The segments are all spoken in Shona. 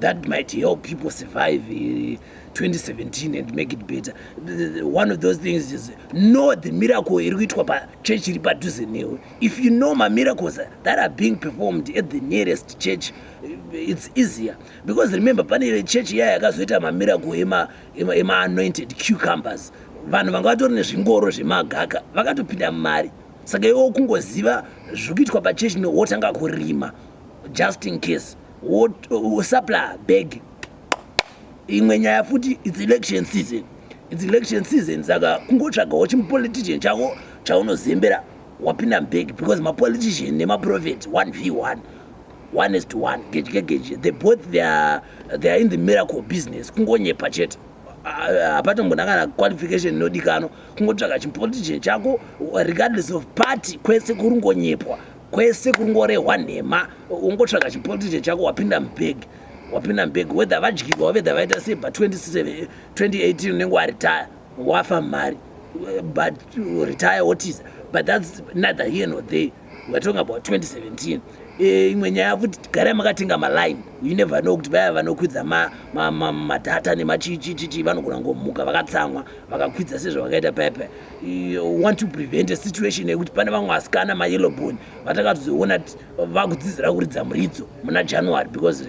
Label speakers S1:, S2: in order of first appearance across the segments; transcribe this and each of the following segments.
S1: that might help people survive 2017 eh, and make it better one of those things is know the miracle iri kuitwa pachurch iri padhuze newe if you know mamiracles that are being performed at the nearest church eh, it's easier because remember pane church iya yakazoita mamiracle emaanointed cucumbers vanhu vanga vatori nezvingoro zvemagaka vakatopinda mumari saka iwo kungoziva zviri kuitwa pachechi newotanga kurima just in case usapla bag imwe nyaya futi its election season its election season saka kungotsvagawo chimupolitician chako chaunozembera wapinda mubag because mapolitician nemaprofet one v one one is to one gedye gedye the both theyare they are in the miracle business kungonyepa chete hapatombona kana qualification inodikanwa kungotsvaga chimupolitician chako regardless of party kwese kurungonyepwa kwese kungorehwa nhema ungotsvaga chipolitike chako wapinda mubhegi wapinda mubhegi whether vadyirwa whether vaita sei but 27 2018 unenge waritaya wafa mari but retire wotiza but thats neither here nor there weare talking about 2017 eh, imwe nyaya futi garai makatenga maline you never know kuti vaya vanokwidza madata nemachichichichi vanogona ngomuka vakatsamwa vakakwidza sezvavakaita paya paya want to prevent a situation yekuti pane vamwe vasikana mayellow bone vatakatozoona ti vakudzidzira kuridza muridzo muna january because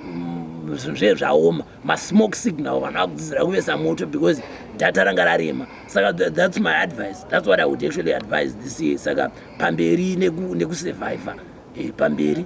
S1: mm, zve zvaoma masmoke signal vanhu vakudzidzira kuvesa moto because data ranga rarema saka that's my advice that's what i would actually advise this year saka pamberi nekusurviva neku eh, pamberi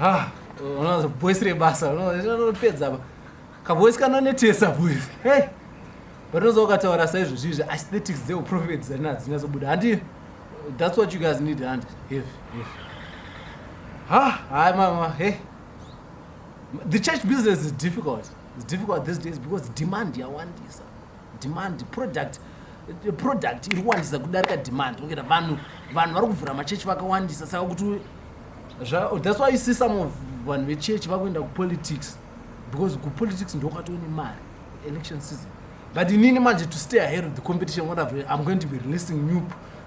S2: Ah, unoza voice rebasa unopedza apa kavoice kanonetesa boys hey vanozo ukataura saizvozvi izvi aesthetics dzeuprofet dzarina hadzinyatsobuda handi that's what you guys need handi heavy heavy ha hayi mama hey the church business is difficult it's difficult these days because demand yawandisa demand product product iri kuwandisa kudarika demand ongera vanhu vanhu vari kuvhura machechi vakawandisa saka kuti oh, thats why you see some of vanhu vechechi vakuenda kupolitics because kupolitics ndokwatone mari election season but inini manje to stay ahead of the competition what I've, i'm going to be releasing new,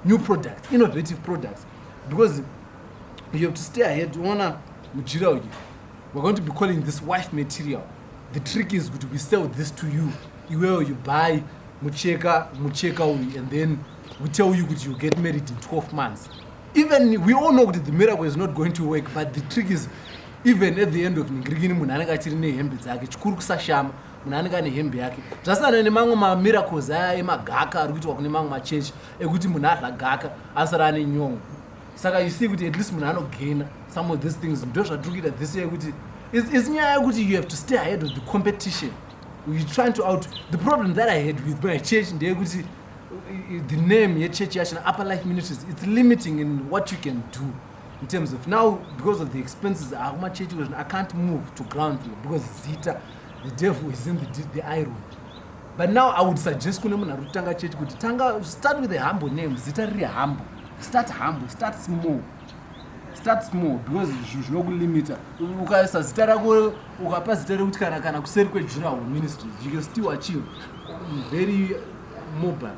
S2: new products innovative products because you have to stay ahead uona mujira uyu we're going to be calling this wife material The trick is kuti we sell this to you. Iwewe you buy mucheka mucheka uyu and then we tell you kuti you get married in 12 months. Even we all know kuti the miracle is not going to work but the trick is even at the end of ningirikini munhu anenge achiri nehembe dzake chikuru kusashama munhu anenge ane hembe yake zvasiyana nemamwe mamiracles aya emagaka ari kuitwa kune mamwe machechi ekuti munhu adla gaka asara ane nyongo saka you see kuti at least munhu anogaina some of these things ndo zvatiri kuita this year kuti is nyaya yekuti you have to stay ahead of the competition you trying to out the problem that i had with my church ndeyekuti the name yechurch yacho upper life ministries it's limiting in what you can do in terms of now because of the expenses akumachurch ah, i can't move to ground floor because zita the devil is in the, the iron but now i would suggest kune munhu ari kutanga church kuti tanga start with a humble name zita riri humble start humble start small start small because zvinhu zvinokulimita ukaisa zita rako ukapa zita rekuti kana kana kuseri kwejurawo ministry you can still achieve very mobile